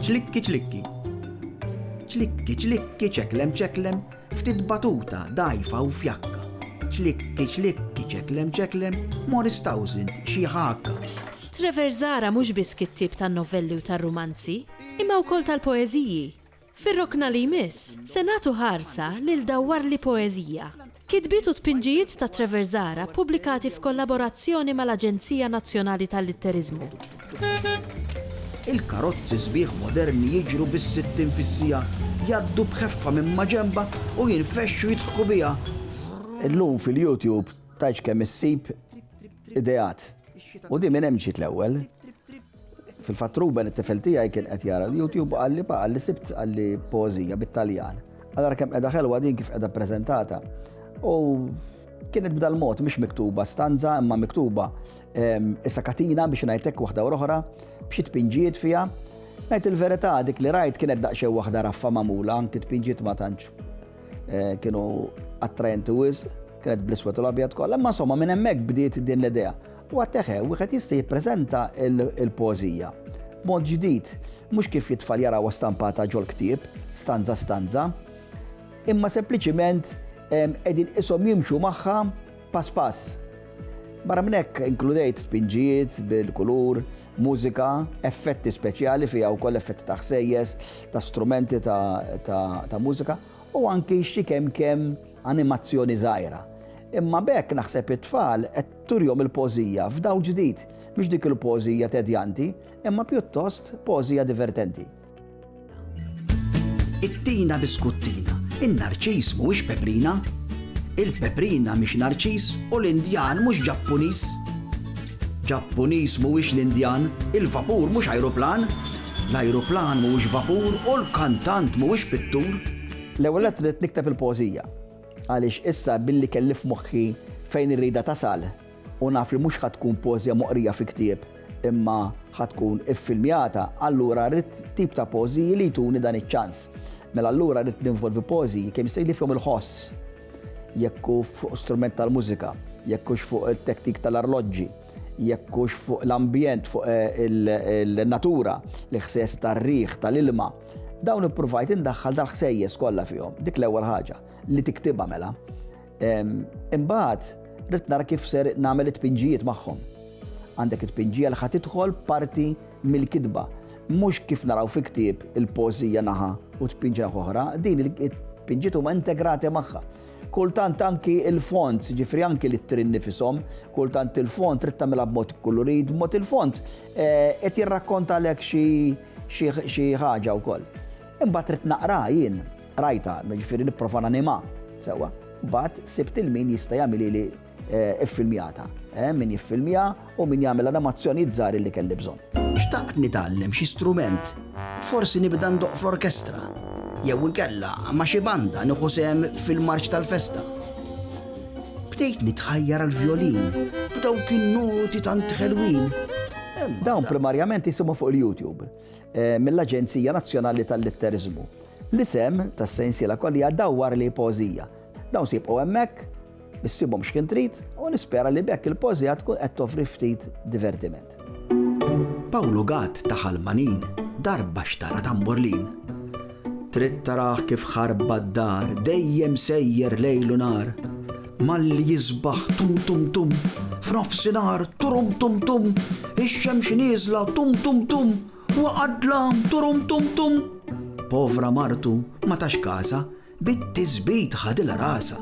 Ċlikki ċlikki. Ċlikki ċlikki ċeklem ċeklem, ftit batuta dajfa u fjakka. Ċlikki ċlikki ċeklem ċeklem, Morris Townsend xi ħakka. Trevor Zara mhux biss kittib tan-novelli u tar-rumanzi, imma wkoll tal-poeżiji. Fir-rokna li jmiss, se nagħtu ħarsa lil Dawwar li Poeżija, kitbiet u tpinġijiet ta' Trevor Zahra ppubblikati f'kollaborazzjoni mal-Aġenzija Nazzjonali tal-Litteriżmu. Il-karozzi sbieħ moderni jiġru bis-sittin fis-siegħa, jgħaddu b'ħeffa minn maġenba u jinfexxu jidħku biha. Illum fil-YouTube tgħidx kemm issib ideat u din minn hemm ġiet l-ewwel. Fil-fatt Ruben it-tifel tiegħi kien qed jara l-YouTube u qalli pa qalli sibt qalli pożija bit-Taljan. Allora kemm qiegħda ħelwa din kif qiegħda ppreżentata. U kienet b'dal mod mhix miktuba stanza imma miktuba ehm, issa katina biex ngħidlek waħda u oħra b'xi tpinġiet fiha. Ngħid il-verità dik li rajt kienet daqsxejn waħda raffa magħmula anki tpinġiet ma tantx eh, kienu attrajenti wis, kienet bl-iswed u l-abjad kollha, imma somma minn hemmhekk bdiet din l-idea. U għatteħe, wieħed jista' jippreżenta l-poeżija b'mod ġdid, mhux kif jitfal jarawha stampata ġol-ktieb, stanza stanza, imma sempliċiment qegħdin qishom jimxu magħha pass pass. Barra minn hekk inkludejt spinġijiet bil-kulur, mużika, effetti speċjali fiha wkoll effetti ta' ħsejjes, ta' strumenti ta' mużika u anki xi kemm kemm animazzjoni żgħira. Imma bekk naħseb it-tfal qed Turihom il-poeżija f'dawl ġdid, mhix dik il-poeżija tedjanti, imma pjuttost poeżija divertenti. Ittina biskuttina, in-narċis mhuwiex peprina? Il-peprina mhix narċis u l-Indjan mhux Ġappuniż? Ġappuniż mhuwiex l-Indjan, il-vapur mhux ajruplan? L-ajruplan mhuwiex vapur u l-kantant mhuwiex pittur? L-ewwel nett rrid nikteb il-poeżija. Għaliex issa billi kelli f'moħħi fejn irridha tasal u naf li mhux ħa tkun poeżja moqrija fi ktieb imma ħa tkun iffilmjata, allura rrid tip ta' poeżiji li jtuni dan iċ-ċans. Mela allura rrid ninvolvi poeżiji kemm jista' jkun li fihom il-ħoss, jekk hu fuq strument tal-mużika, jekk hux fuq it-tektik tal-arloġġi, jekk hux fuq l-ambjent, fuq il-natura, l-iħsies tar-riħ, tal-ilma. Dawn ippruvajt indaħħal dal-ħsejjes kollha fihom, dik l-ewwel ħaġa li tiktibha mela. Imbagħad rrid nara kif ser nagħmel it-tpinġijiet magħhom. Għandek it-tpinġija li ħad tidħol parti mill-kitba. Mhux kif naraw fi ktieb il-pożija naħa u tpinġi naħa oħra, din il-tpinġiet huma integrati magħha. Kultant anki il-font, ġifri anki li t-trin nifisom, kultant il-font trid tagħmilha b'mod kulurid, b'mod il-font eh, qed jirrakkonta lek xi xi ħaġa wkoll. Imbagħad ridt naqraha jien, qrajtha, jiġifieri nipprova nanimha sewwa. Imbagħad sibt il min jista' jagħmilili iffilmjata. Min jiffilmja u min jagħmel animazzjonijiet żgħar li kelli bżonn. Xtaqt nitgħallem xi strument, forsi nibda ndoqq fl-orkestra, jew inkella ma' xi banda nieħu sehem fil-marċ tal-festa. Bdejt nitħajjar għall-vjolin b'dawk in-noti tant ħelwin. Dawn primarjament jisimgħu fuq il-YouTube eh, mill-Aġenzija Nazzjonali tal-Litteriżmu. L-isem tas-sensiela kollha dawwar li pożija. Dawn sibqgħu hemmhekk, issibhom x'kien trid u nispera li bekk il-pożija tkun qed toffri ftit divertiment. Ġenerat. Pawlu Gatt ta' Ħal Manin darba xtara tamburlin. Trid tarah kif ħarba d-dar dejjem sejjer lejl u nhar. Malli jisbaħ tum tum tum, f'nofsinhar turum tum tum, ix-xemx nieżla tum tum tum, waqa' d-dlam turum tum tum. Povra martu ma tax każha, Bit-tisbit ħadilha rasha.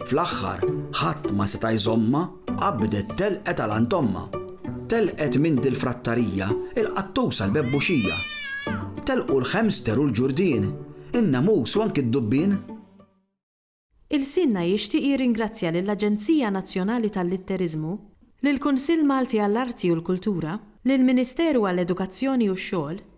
Fl-aħħar ħadd ma seta' jżommha, qabdet telqet għal għand ommha. Telqet minn dil-frattarija, il-qattus għall-bebbuxija. Telqu l-ħemster u l-ġurdien, in-namus u anki d-dubbien. Ilsienna jixtieq jirringrazzja lill-Aġenzija Nazzjonali tal-Litteriżmu, lill-Kunsill Malti għall-Arti u l-Kultura, lill-Ministeru għall-Edukazzjoni u x-Xogħol,